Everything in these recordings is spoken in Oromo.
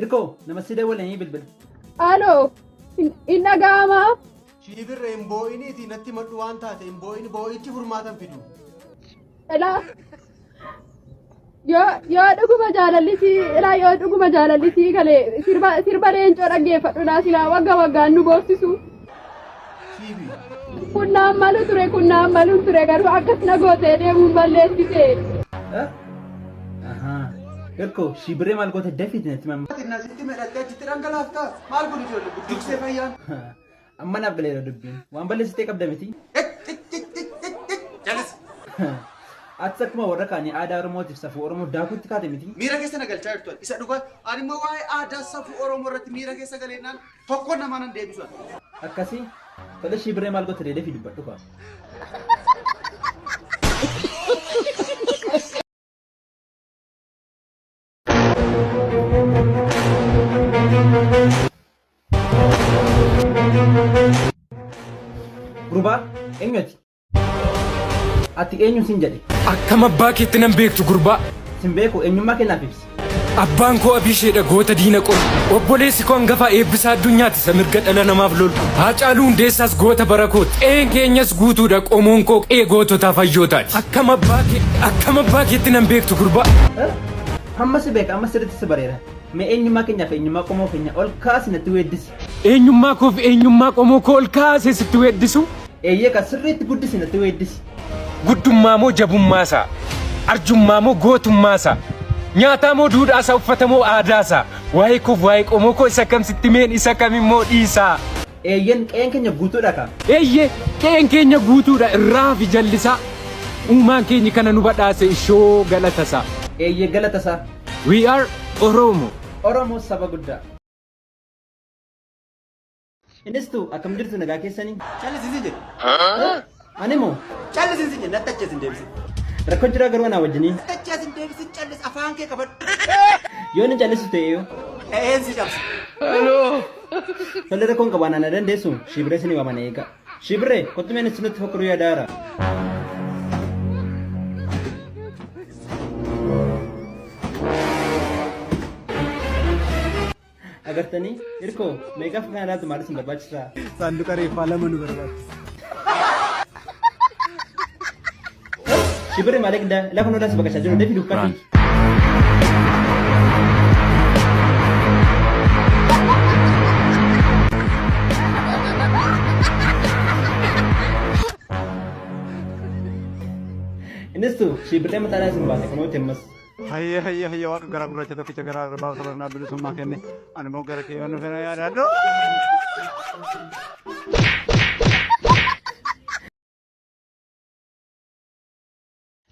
Irko, nama si dawwalanii bilbila. Haaloo, hin dhaga'amaa? Shiibirra hin boo'iniiti natti madhu waan taate hin boo'ini boo'ichi furmaatan fidu. Ilaa, yoo yoo dhuguma jaalallisii, ilaa yoo dhuguma jaalallisii galee sirba sirba leencoo dhaggeeffadhu laa silaa wagga waggaan nu boorsisu. Kunnaan malu ture kunnaan malu ture garuu akkas na gootee deemuun balleessite. Garko si biree maal goote dafit natti mamma. Tina sitti medhattee achitti dhangalaafta. Maal kun ijoollee budduuksee fayyaan. Amma naaf galeera dubbiin. Waan balleessitee qabda miti. Jalisi. Ati akkuma warra kaanii aadaa Oromootiif safuu Oromoo daakuutti kaate miti. Miira keessa na galchaa jirtu. Isa dhugaa. Ani immoo waa'ee aadaa safuu Oromoo irratti miira keessa galeennaan Tokkoon namaa nan deebisu ani. Akkasii tole shii birree maal gote deedee fi dubbadhu kaa. Gurbaa eenyuti? Ati eenyu sin jedhe? Akkam abbaa keetti nan beektu gurbaa. Sin beeku eenyummaa kee naaf ibsi. Abbaan koo Abiisheedha goota diina qori. Obboleessi koo hangafaa eebbisaa addunyaati isa mirga dhala namaaf lolu. Haacaaluu hundeessaas goota bara kooti. Qe'een keenyas guutuudha qomoon koo qe'ee goototaa fayyootaati. Akkam abbaa kee akkam abbaa keetti nan beektu gurbaa. Amma si beeka amma sirriitti si bareera. Mee eenyummaa keenyaaf eenyummaa qomoo keenya ol kaasi natti weeddisi. Eenyummaa koof eenyummaa qomoo koo ol kaasee sitti weeddisu. Eeyyee kan sirriitti guddisi natti weeddisi. Guddummaa moo jabummaa isaa? Arjummaa moo gootummaa isaa? Nyaataa moo duudhaa isaa? Uffata moo aadaa isaa? Waa'ee koof waa'ee qomoo koo isa kam sitti meen isa kam immoo dhiisaa? Eeyyen qe'een keenya guutuudha ka. Eeyyee qe'een keenya guutuudha irraa hafi jallisaa. Uumaan keenyi kana nu badhaase ishoo galata isaa. Eeyyee galata isaa. We are Oromo. Oromoo saba guddaa. Innis tu akkam jirtu nagaa keessanii? Callisi si jedhe. Ani moo? Callisi si jedhe natti achi asin deebisi. Rakkoo jiraa garuu anaa wajjinii. Natti achi asin deebisi callis afaan kee qabadhu. Yoo inni callisu ta'e yoo. Eeyyeen si cabsa. Tole rakkoon qabaan ana dandeessu shiibiree isin waaman eega. Shiibiree kottu meen isin nutti fakkuruu yaadaara. Agartanii hirkoo meeqaf kaanaatu maal isin barbaachisaa? Saanduqa reeffaa lama nu barbaachisa. Shibirri maaliif daa lafa nurraa si baqachaa jiru deebi dubbatti. Innis tu shibirri mataa dhaa isin baate kunuuti ammas. Hayya hayya hayya waaqa garaa gurraacha tokkicha garaa arbaa sabarnaa bilisummaa kenne ani immoo gara kee yoon dhufee na yaadaadhu.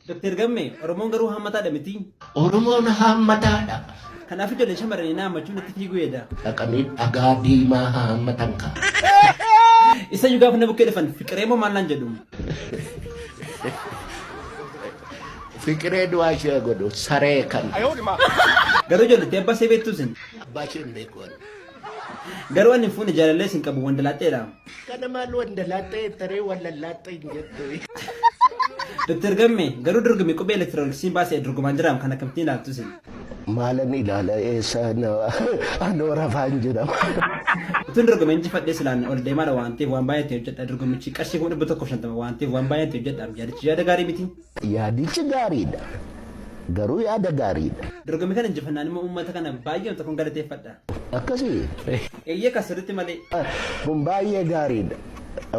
Doktar Gammee, Oromoon garuu haammataadha miti. Oromoon haammataadha. Kanaaf ijoollee shamarranii na haammachuun natti fiiguu eeda. Dhaqanii dhagaa diimaa haammatan kaa. Isa iyyuu gaafa na bukkee dhufan fiqiree moo maal naan jedhu. Fiqiree du'aa ishee haa godhu saree kan. Garuu ijoolletti abbaa see beektuu sin. Abbaa ishee hin beeku ani. Garuu ani hin fuune jaalallee sin qabu wandalaaxxeedha. Kana maal wandalaaxxee taree wallallaaxxee hin jettu. Dr. Gamme garuu dorgommii qubee elektirooniksiin baasee dorgomaan jiraam kan akkamittiin ilaaltu sin. Maalan ilaala eessa anoo rafaan jira. Utuun dorgome injifadhee silaan ol deemaadha waan ta'eef waan baay'ee ta'e hojjedha dorgommichi qarshii kuma dhibba tokkoof shantama waan ta'eef waan baay'ee ta'e hojjedha yaadichi yaada gaarii miti. Yaadichi gaariidha. Garuu yaada gaariidha. Dorgommii kana injifannaan immoo uummata kana baay'ee tokkoon galateeffadha. Akkasii. Eeyyee kan sirriitti malee. Kun baay'ee gaariidha.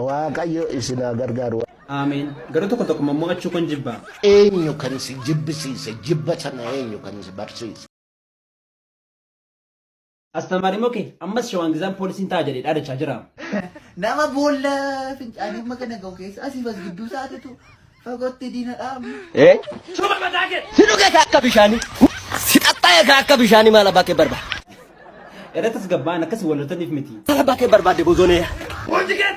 Waaqayyo isin haa gargaaru. Amen garuu tokko tokko mo'achuu kon jibba. Eenyu kan si jibbisiise? Jibba sana eenyu kan si barsiise? Astamari moke ammas shawaan gizaan poolisiin ta'a jedhee dhaadachaa jira. Nama boolla fincaanii amma kana gahu keessa asiif as gidduu isaatitu fagootti diina dhaamu. Si dhugee kaa akka bishaanii. Si xaxxaa'ee kaa akka bishaanii maal abbaa kee barbaada? Era tasgabba'an akkasi wal loltaniif miti. Sala bakkee barbaadde bozonee. Wanti kee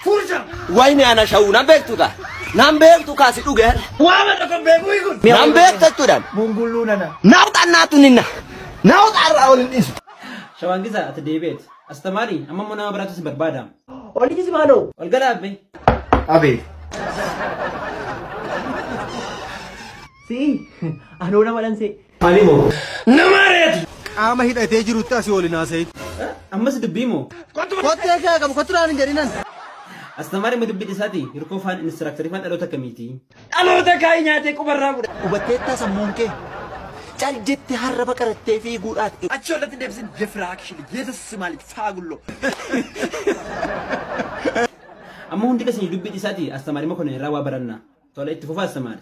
fuucha. Wayne ana shawuu nan beektu kaa. Nan beektu kaa si dhuge. Waama tokko beekuu kun. Nan beektu jechuudha. Bungulluu nana. Naawuxa annaatu ninna. Naawuxa irraa ol hin dhiisu. Shawaan gisaa ati deebi'eet. Astamaari amma immoo nama biraatu si barbaada. Oli kisi maaloo. Ol gala abbe. Abee. Si'i. Anoo nama dhansee. Maalii moo? Nama ari'atu! Qaama hidhatee jirutti asii ol hin haasa'in. Ammas dubbii moo? Kottee kee qabu kottu naan hin jedhinan. Astamaari ma dubbii dhisaati hirkoo faan inistiraaktarii faan dhaloota akkamiiti? Dhaloota kaa'ii nyaatee qubarraa godha. Hubatteettaa sammuun kee? Cal jette harraba qarattee fiiguudhaaf. Achi ollatti deebisin defiraakshili yesus simaalik faagullo. Amma hundi keessa dubbii dhisaati astamaari ma kana irraa waa baranna. Tola itti fufaa astamaari.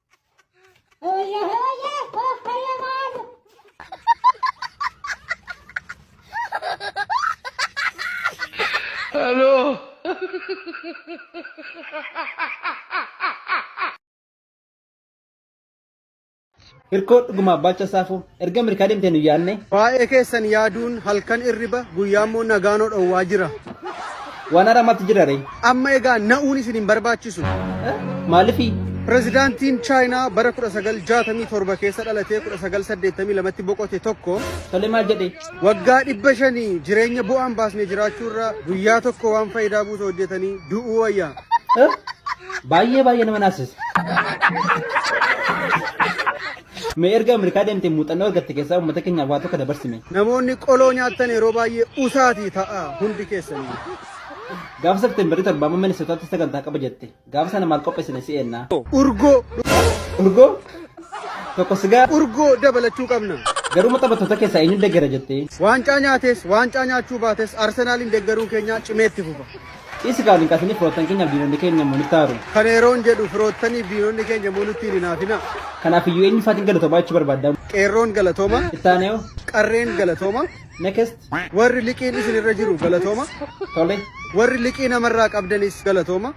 Hirkoo dhugumaa baacha saafuu. Erga Ameerikaa deemtee nu yaadne. Waa'ee keessan yaaduun halkan irriba guyyaa immoo nagaanoo dhowwaa jira. Waan haaraa maaltu jira ree? Amma egaa na'uun isin hin barbaachisu. Maalifi? Pirezidaantiin Chaayinaa bara 1967 keessa dhalatee 1982tti boqote tokko Tole maal jedhee? waggaa dhibba shanii jireenya bu'aan baasne jiraachuurra guyyaa tokko waan faayidaa buusa hojjetanii du'uu wayya. Baay'ee baay'ee nama naasisa. Mee erga Ameerikaa deemtee muuxannoo argatte keessaa uummata keenyaaf waa tokko dabarsime. Namoonni qoloo nyaattan yeroo baay'ee usaatii ta'a hundi keessanii. Gaafa Septeembarii torbaa amma Minisootaatti sagantaa qaba jette. Gaafa sana maal qopheessine si eenna? Urgoo. Urgoo? Tokko sigaa? Urgoo dabalachuu qabna. Garuu maxabattoota keessaa eenyu deggera jettee? Waancaa nyaates, waancaa nyaachuu baates Arsenaaliin deggeruun keenyaa cimee itti fufa. Dhiisi kaa link asini firoottan keenyaaf diinonni keenya immoo nutti aaru. Kana yeroon jedhu firoottaniif diinonni keenya immoo nutti hin hinaafinaa. Kanaaf iyyuu eenyu faatiin galatoomaa jechuu barbaadda? Qeerroon galatooma. Itti aanee hoo? Qarreen galatooma. Next. Warri liqiin isin irra jiru galatooma. Tole. Warri liqii namarraa qabdanis galatooma.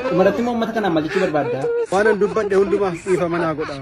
Dhumarratti immoo uummata kanaan maal jechuu barbaadda? Waanan dubbadhe hundumaaf dhiifama naa godha.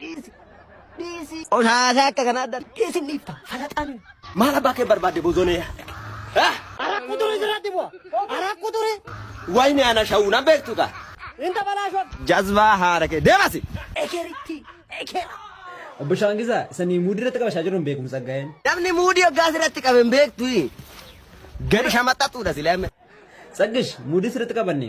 Dhiisi. Dhiisi. Qoshaasaa akka kanaa adda dhiisin dhiifta. Falaxaan. Maal abbaa kee barbaadde bozonee? Arakkuu ture jiraatti bu'a. Arakkuu ture. Wayne ana shawuu na beektu taa. Inta balaashoo. Jazbaa haara kee deemasi. Ekeritti. Ekera. Obbo Shaangisaa isanii muudii irratti qabashaa jiruun beekumsa ga'een. Namni muudii hoggaas irratti qabe hin beektu. Gadi shamaxaxuudha silee. Tsaggish muudii sirriitti qabanne.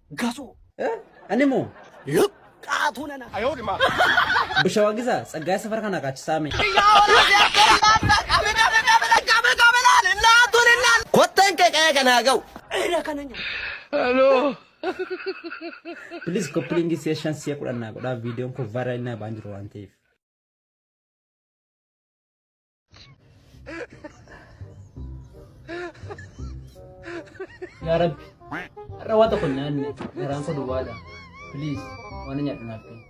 gasoo. Ani moo. Luqqaatuu nana. Ayoo dhimaa. Bisha Wagiza tsaggaa safara kana qaachisaa mee. Kotteen kee qe'ee kanaa ga'u. Eera kana nyaa. Please koppilingi si'a shan si'a kudhan naa godhaa viidiyoon kun vaayiraalii naa ba'aa jiru waan ta'eef. Yaa Rabbi, har'a waan tokko hin nyaanne garaan koo duwwaadha. Please, waan hin nyaadhu naaf kenni.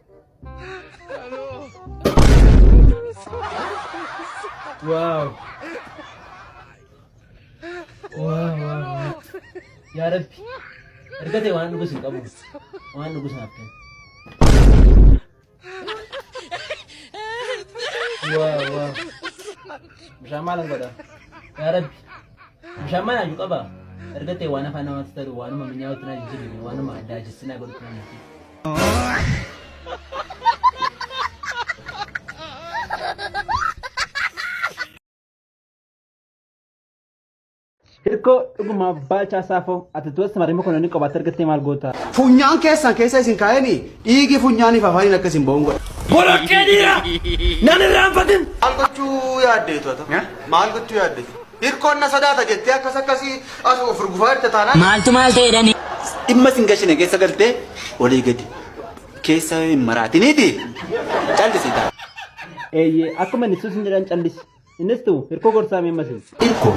Wow. Wow, wow, wow. Yaa Rabbi, erga ta'e waan dhugus hin qabu. Waan dhugus naaf kenni. Waa waa. Bishaan maalan godha? Yaa Rabbi. Bishaan maal haaju qaba? Erga ta'e waan afaan namaatti taru waanuma minyaa'utti na jijjiirame waanuma addaa jissi na godhutti na jijjiirame. Hirkoo dhuguma baalchaa saafoo ati tuwessa marii mokononni qobaatti argattee maal goota? Funyaan keessan keessa isin kaa'eni dhiigi funyaaniif afaaniin akka isin ba'uun godha. Boloqqee dhiira! Nan irraanfatin! Maal gochuu yaaddeetu ata? Maal gochuu yaaddeetu? Hirkoon na sodaata jettee akkas akkasii as of rugufaa jirta taanaan. Maaltu maal ta'e jedhani? Dhimma isin gashine keessa galtee olii gadi keessa hin maraatiniiti. Callisii ta'a. Eeyyee akkuma inni suusin jedhan callisi. Innis tu hirkoo gorsaa mee masin. Irko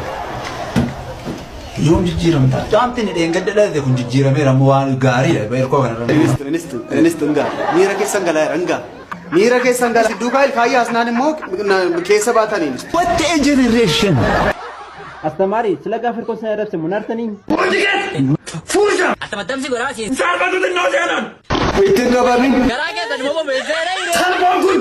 yoom jijjiiramta? Caamtiin dheengadda dhalate kun jijjiirameera ammoo waan gaariidha irkoo kanarra. Inistu, inistu, inistu ngaa. Miira keessan galaa jira ngaa. Miira keessan galaa. Duukaa ilkaayyaa asnaan immoo na- keessa baataniin. What a generation! Astamaarii sila gaaf hirkoo sana irratti munaartanii. Attamattamsi godhaa siis. Ittiin gabaabin. Garaa keessan immoo bobeessee dha. Salphaan kun.